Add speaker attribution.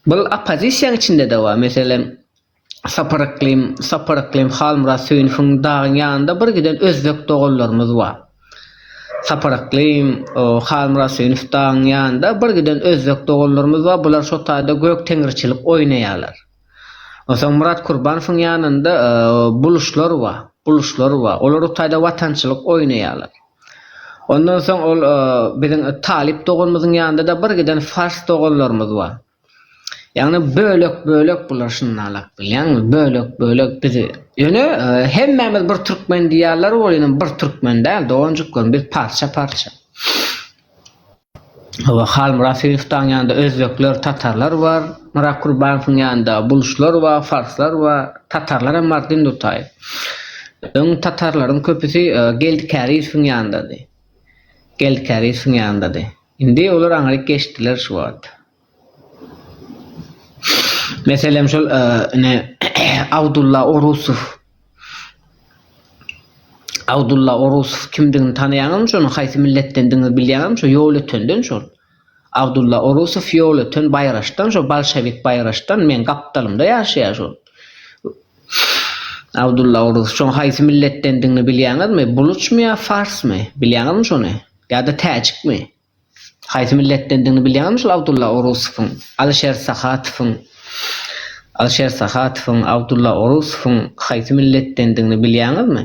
Speaker 1: Bul oppozisiýaň içinde-de bar. Meselem, Sapar Yklym, Sapar Yklym, Halmyrat Söýünowyň dagyň ýanynda bir giden özbek doganlarymyz bar. Sapar Yklym, Halmyrat Söýünow dagyň ýanynda bir giden özbek doganlarymyz bar. Bular şo taýda gök teňriçilik oýnaýarlar. Onsoň Murat Kurbanowyň ýanynda buluşlar bar, buluşlar bar. Olar o taýda watançylyk oýnaýarlar. Ondan soň ol biziň talyp doganymyzyň ýanynda-da bir giden fars doganlarymyz bar. Ýagny bölek-bölek bular şundalak bilýäňmi, bölek-bölek bizi. Ýöne hemmämiz bir türkmen diýýärler, ol ýene bir türkmen däl doganjyklarym, biz parça-parça. Hawa, Halmyrat Seýifowaň ýanynda özbekler, tatarlar bar. Myrat Kurbanowyň ýanynda buluşlar bar, farslar bar. Tatarlar hem bar, Dindutaý. Öň tatarlaryň köpüsi Geldi Kärizowyň ýanyndady. Geldi Kärizowyň ýanyndady. Indi olar aňryk geçdiler şu wagt. Meselem şol ine Abdulla Orusow. Abdulla Orusow kimdigini tanaýaňyzmy şonuň haýsy milletdendigini bilýäňizmi şo ýol ötenden şol. Abdulla Orusow ýol öten baýraçdan şo bolşewik baýraçdan meň gapdalymda ýaşaýar şol. Abdulla Orusow şoň haýsy milletdendigini bilýäňizmi buluçmy ýa farsmy bilýäňizmi şony ýa-da täjikmi. Haýsy milletdendigini bilýäňmi şol Abdulla Orusowyň, Alişer Sahatowyň? Alişer Sahatowyň, Abdulla Orusowyň haýsy milletdendigini bilýäňizmi?